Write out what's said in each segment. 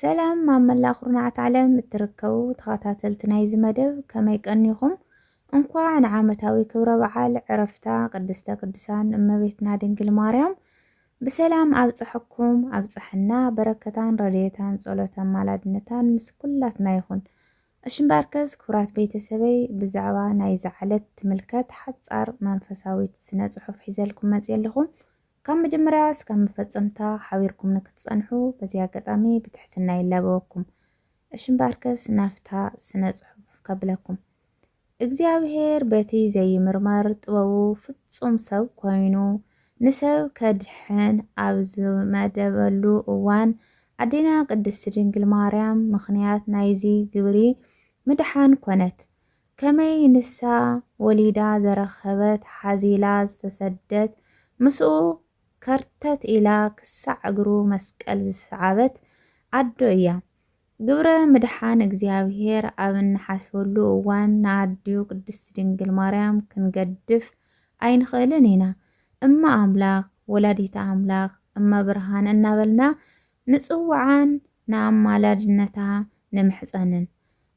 ሰላም ኣብ መላእ ኩርናዓት ዓለም እትርከቡ ተኸታተልቲ ናይዚ መደብ ከመይ ቀኒኹም እንኳዕ ንዓመታዊ ክብረ በዓል ዕረፍታ ቅድስተ ቅዱሳን እመቤትና ድንግል ማርያም ብሰላም ኣብፀሐኩም ኣብፀሐና በረከታን ረድኤታን ፀሎተ ኣማላድነታን ምስ ኩላትና ይኹን እሺ እምበኣርከስ ክቡራት ቤተሰበይ ብዛዕባ ናይዛ ዕለት ትምልከት ሓፃር መንፈሳዊት ስነ ፅሑፍ ሒዘልኩም መፅየ ኣለኹ ካብ መጀመርያ እስካብ መፈጸምታ ሓቢርኩም ንክትጸንሑ በዚ ኣጋጣሚ ብትሕትና ይላበወኩም። እሺ እምበኣርከስ ናብታ ስነ ጽሑፍ ከብለኩም። እግዚኣብሄር በቲ ዘይምርመር ጥበቡ ፍጹም ሰብ ኮይኑ ንሰብ ከድሕን ኣብ ዝመደበሉ እዋን ኣዴና ቅድስቲ ድንግል ማርያም ምኽንያት ናይዚ ግብሪ ምድሓን ኮነት። ከመይ ንሳ ወሊዳ ዘረከበት ሓዚላ ዝተሰደት ምስኡ ከርተት ኢላ ክሳዕ እግሩ መስቀል ዝሰዓበት ኣዶ እያ። ግብረ ምድሓን እግዚኣብሔር ኣብ እንሓስበሉ እዋን ንኣዲኡ ቅድስት ድንግል ማርያም ክንገድፍ ኣይንኽእልን ኢና። እመ ኣምላክ፣ ወላዲተ ኣምላክ፣ እመ ብርሃን እናበልና ንጽውዓን ንኣማላድነታ ንምሕጸንን።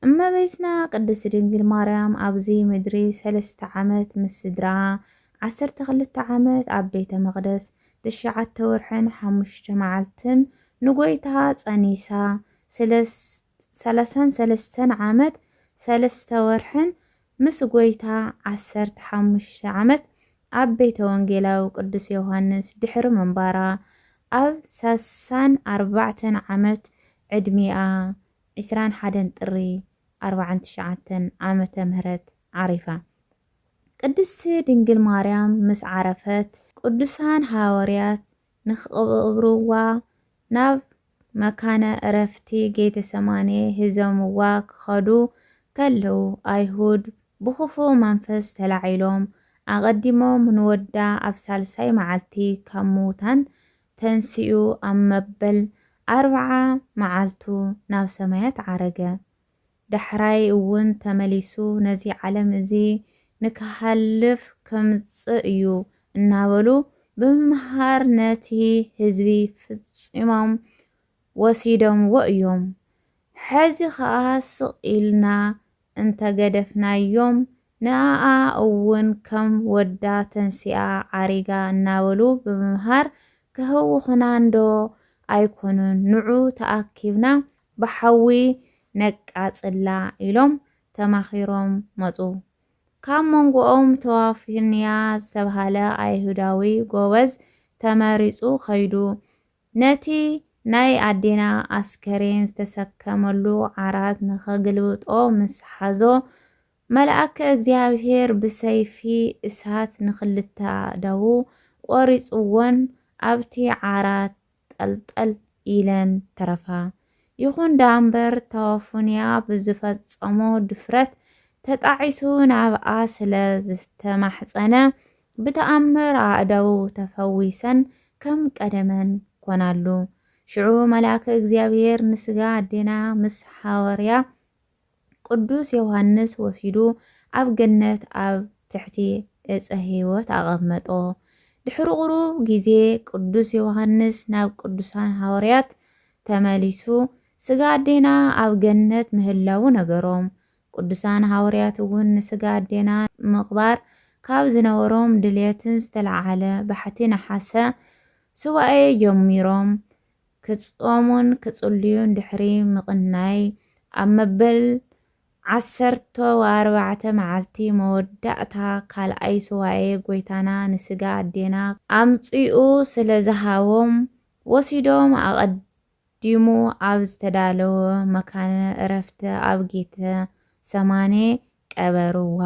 እመቤትና ቅድስት ድንግል ማርያም ኣብዚ ምድሪ ሰለስተ ዓመት ምስ ስድርኣ፣ ዓሰርተ ክልተ ዓመት ኣብ ቤተ መቕደስ፣ ትሽዓተ ወርሕን ሓሙሽተ መዓልትን ንጐይታ ጸኒሳ፣ ሰላሳን ሰለስተን ዓመት ሰለስተ ወርሕን ምስ ጐይታ ዓሰርተ ሓሙሽተ ዓመት ኣብ ቤተ ወንጌላዊ ቅዱስ ዮሓንስ ድሕሪ ምንባራ፣ ኣብ ሳሳን ኣርባዕተን ዓመት ዕድሚኣ ዕስራን ሓደን ጥሪ ኣርብዓን ትሽዓተን ዓመተ ምህረት ዓሪፋ። ቅድስቲ ድንግል ማርያም ምስ ዓረፈት፣ ቅዱሳን ሃወርያት ንክቕብርዋ ናብ መካነ ዕረፍቲ ጌተሰማኔ ሒዞምዋ ክኸዱ ከለዉ፣ ኣይሁድ ብኽፉእ መንፈስ ተላዒሎም ኣቐዲሞም ንወዳ ኣብ ሳልሳይ መዓልቲ ካብ ምዉታን ተንሲኡ ኣብ መበል ኣርብዓ መዓልቱ ናብ ሰማያት ዓረገ። ዳሕራይ እውን ተመሊሱ ነዚ ዓለም እዚ ንክሓልፍ ከምጽእ እዩ እናበሉ ብምምሃር ነቲ ህዝቢ ፍጺሞም ወሲዶምዎ እዮም። ሕዚ ከኣ ስቕ ኢልና እንተ ገደፍናዮም ንኣኣ እውን ከም ወዳ ተንሲኣ ዓሪጋ እናበሉ ብምምሃር ከህውኹና እንዶ ኣይኮኑን ንዑ ተኣኪብና ብሓዊ ነቃፅላ ኢሎም ተማኺሮም መፁ። ካብ መንጎኦም ተዋፊንያ ዝተብሃለ ኣይሁዳዊ ጎበዝ ተመሪፁ ከይዱ። ነቲ ናይ ኣዴና ኣስከሬን ዝተሰከመሉ ዓራት ንኸግልብጦ ምስ ሓዞ፣ መልኣከ እግዚኣብሄር ብሰይፊ እሳት ንኽልተ ኣእዳዉ ቈሪጹወን ኣብቲ ዓራት ጠልጠል ኢለን ተረፋ። ይኹን ደኣምበር ታወፉንያ ብዝፈጸሞ ድፍረት ተጣዒሱ ናብኣ ስለ ዝተማሕጸነ፣ ብተኣምር ኣእዳዉ ተፈዊሰን ከም ቀደመን ኮናሉ። ሽዑ መልኣከ እግዚኣብሔር ንሥጋ ኣዴና ምስ ሓወርያ ቅዱስ ዮሓንስ ወሲዱ ኣብ ገነት ኣብ ትሕቲ ዕፀ ሕይወት ኣቐመጦ። ድሕሪ ቁሩብ ጊዜ ቅዱስ ዮሓንስ ናብ ቅዱሳን ሓወርያት ተመሊሱ ሥጋ ኣዴና ኣብ ገነት ምህላዉ ነገሮም። ቅዱሳን ሃወርያት እውን ንስጋ ኣዴና ንምቕባር ካብ ዝነበሮም ድልየትን ዝተለዓዓለ ባሕቲ ነሓሰ ሱባኤ ጀሚሮም ክጾሙን ክጽልዩን ድሕሪ ምቕናይ ኣብ መበል ዓሰርቶ ወኣርባዕተ መዓልቲ መወዳእታ ካልኣይ ሱባኤ ጎይታና ንስጋ ኣዴና ኣምጺኡ ስለ ዝሃቦም ወሲዶም ኣቐዲሞም ዲሙ ኣብ ዝተዳለወ መካነ እረፍቲ ኣብ ጌተ ሰማኔ ቀበርዋ።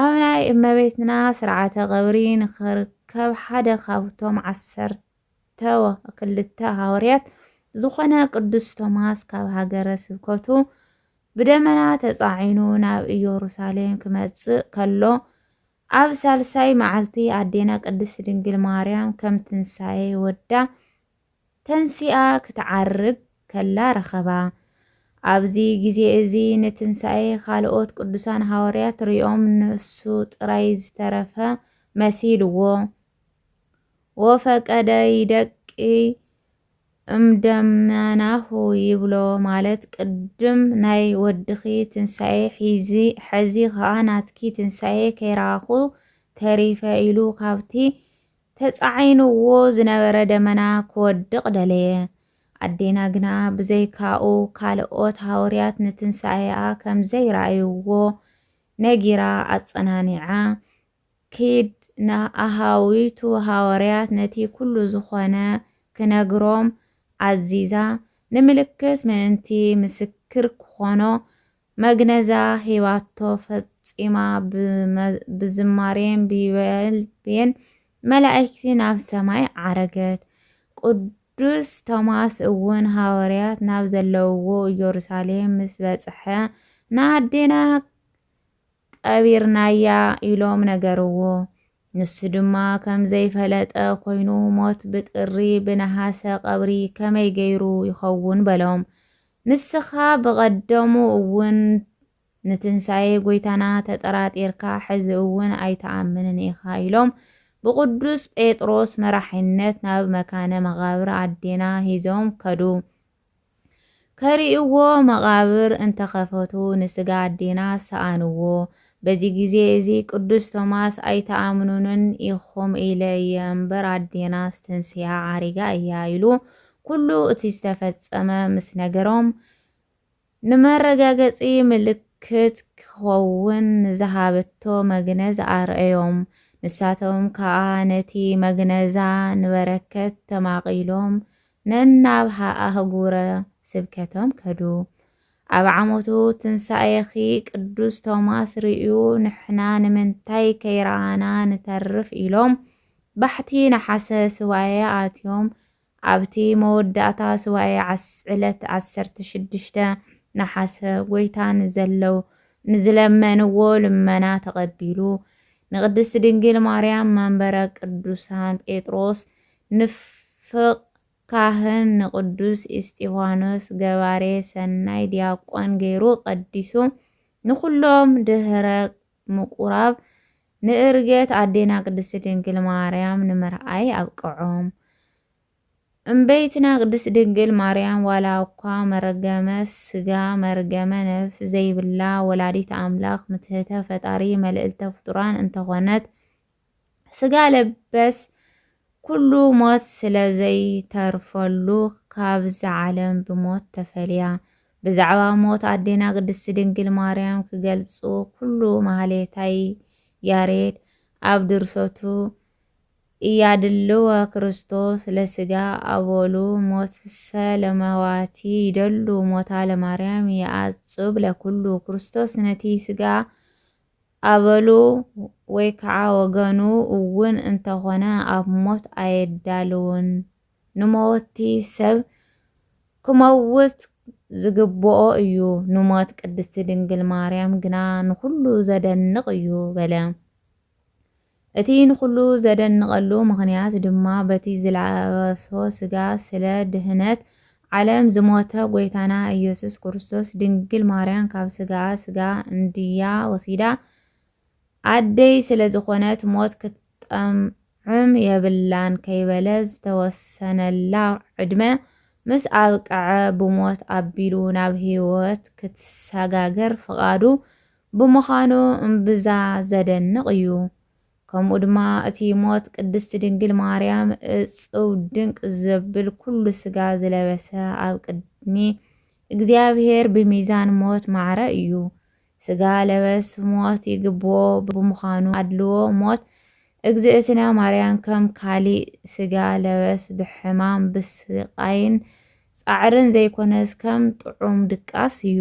ኣብ ናይ እመቤትና ስርዓተ ቐብሪ ንኽርከብ ሓደ ካብቶም ዓሰርተ ክልተ ሃወርያት ዝኾነ ቅዱስ ቶማስ ካብ ሃገረ ስብከቱ ብደመና ተጻዒኑ ናብ ኢየሩሳሌም ክመጽእ ከሎ ኣብ ሳልሳይ መዓልቲ ኣዴና ቅድስት ድንግል ማርያም ከም ትንሣኤ ወዳ ተንሲኣ ክትዓርግ ከላ ረኸባ። ኣብዚ ግዜ እዚ ንትንሳኤ ካልኦት ቅዱሳን ሃዋርያት ርእዮም ንሱ ጥራይ ዝተረፈ መሲልዎ ወፈቀደ ይደቂ እምደመናሁ ይብሎ ማለት ቅድም ናይ ወድኺ ትንሳኤ ሒዚ ሐዚ ኸኣ ናትኪ ትንሳኤ ከይረኣኹ ተሪፈ ኢሉ ካብቲ ተጻዒኑዎ ዝነበረ ደመና ክወድቕ ደለየ። ኣዴና ግና ብዘይካኡ ካልኦት ሃወርያት ንትንሳኤኣ ከም ዘይረኣዩዎ ነጊራ ኣጸናኒዓ፣ ኪድ ንኣሃዊቱ ሃወርያት ነቲ ኩሉ ዝኾነ ክነግሮም ኣዚዛ፣ ንምልክት ምእንቲ ምስክር ክኾኖ መግነዛ ሂባቶ ፈጺማ ብዝማሬን ብይበልቤን መላእክቲ ናብ ሰማይ ዓረገት። ቅዱስ ቶማስ እውን ሃዋርያት ናብ ዘለውዎ ኢየሩሳሌም ምስ በጽሐ ንኣዴና ቀቢርናያ ኢሎም ነገርዎ። ንሱ ድማ ከም ዘይፈለጠ ኮይኑ ሞት ብጥሪ ብነሃሰ ቀብሪ ከመይ ገይሩ ይኸውን በሎም። ንስኻ ብቐደሙ እውን ንትንሳኤ ጎይታና ተጠራጢርካ ሕዚ እውን ኣይትኣምንን ኢኻ ኢሎም ብቅዱስ ጴጥሮስ መራሒነት ናብ መካነ መቓብር ኣዴና ሂዞም ከዱ። ከርእይዎ መቓብር እንተ ኸፈቱ ንስጋ ኣዴና ሰኣንዎ። በዚ ግዜ እዚ ቅዱስ ቶማስ ኣይትኣምኑንን ኢኹም ኢለ እየ እምበር ኣዴናስ ተንሲሃ ዓሪጋ እያ ኢሉ ኩሉ እቲ ዝተፈጸመ ምስ ነገሮም ንመረጋገጺ ምልክት ክኸውን ንዝሃበቶ መግነዝ ኣርእዮም። ንሳቶም ከኣ ነቲ መግነዛ ንበረከት ተማቒሎም ነናብ ኣህጉረ ስብከቶም ከዱ። ኣብ ዓመቱ ትንሳኤኺ ቅዱስ ቶማስ ርእዩ ንሕና ንምንታይ ከይረኣና ንተርፍ ኢሎም ባሕቲ ነሓሰ ሱባኤ ኣትዮም ኣብቲ መወዳእታ ሱባኤ ዓስ ዕለት ዓሰርተ ሽዱሽተ ነሓሰ ጎይታ ንዘለው ንዝለመንዎ ልመና ተቐቢሉ ንቅድስት ድንግል ማርያም መንበረ ቅዱሳን ጴጥሮስ ንፍቅ ካህን ንቅዱስ ኢስጢፋኖስ ገባሬ ሰናይ ዲያቆን ገይሩ ቀዲሱ ንኩሎም ድህረ ምቁራብ ንእርገት ኣዴና ቅድስት ድንግል ማርያም ንምርኣይ ኣብቅዖም። እምበይትና ቅድስት ድንግል ማርያም ዋላ እኳ መረገመ ስጋ መርገመ ነፍስ ዘይብላ ወላዲት ኣምላክ ምትህተ ፈጣሪ መልእልተ ፍጡራን እንተኾነት ስጋ ለበስ ኩሉ ሞት ስለ ዘይተርፈሉ ካብዛ ዓለም ብሞት ተፈልያ። ብዛዕባ ሞት ኣዴና ቅድስቲ ድንግል ማርያም ክገልጹ ኩሉ ማህሌታይ ያሬድ ኣብ ድርሰቱ እያድልወ ክርስቶስ ለስጋ ኣበሉ ሞትሰ ለመዋቲ ይደሉ ሞታ ለማርያም የኣጹብ ለኩሉ ክርስቶስ ነቲ ስጋ ኣበሉ ወይ ከዓ ወገኑ እውን እንተኾነ ኣብ ሞት ኣየዳልውን። ንመወቲ ሰብ ክመውት ዝግብኦ እዩ፣ ንሞት ቅድስቲ ድንግል ማርያም ግና ንኹሉ ዘደንቕ እዩ በለ። እቲ ንኹሉ ዘደንቐሉ ምኽንያት ድማ በቲ ዝለበሶ ስጋ ስለ ድህነት ዓለም ዝሞተ ጎይታና ኢየሱስ ክርስቶስ ድንግል ማርያም ካብ ስጋኣ ስጋ እንድያ ወሲዳ ኣደይ ስለ ዝኾነት ሞት ክትጠምዕም የብላን ከይበለ ዝተወሰነላ ዕድመ ምስ ኣብቀዐ ብሞት ኣቢሉ ናብ ሕይወት ክትሰጋገር ፍቓዱ ብምዃኑ እምብዛ ዘደንቕ እዩ። ከምኡ ድማ እቲ ሞት ቅድስት ድንግል ማርያም እጽው ድንቅ ዘብል ኩሉ ስጋ ዝለበሰ ኣብ ቅድሚ እግዚኣብሔር ብሚዛን ሞት ማዕረ እዩ። ስጋ ለበስ ሞት ይግብኦ ብምዃኑ ኣድልዎ ሞት እግዝእትነ ማርያም ከም ካሊእ ስጋ ለበስ ብሕማም ብስቃይን ጻዕርን ዘይኮነስ ከም ጥዑም ድቃስ እዩ።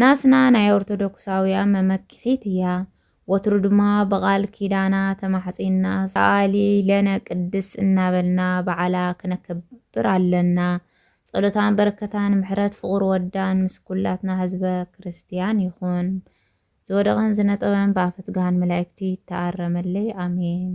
ናትና ናይ ኦርቶዶክሳውያን መመክሒት እያ ወትሩ ድማ ብቓል ኪዳና ተማሕጺና ሰኣሊ ለነ ቅድስ እናበልና በዓላ ክነከብር ኣለና ጸሎታን በረከታን ምሕረት ፍቑር ወዳን ምስ ኩላትና ህዝበ ክርስትያን ይኹን ዝወደቐን ዝነጠበን ብኣፈትግሃን መላእክቲ ይተኣረመለይ ኣሜን።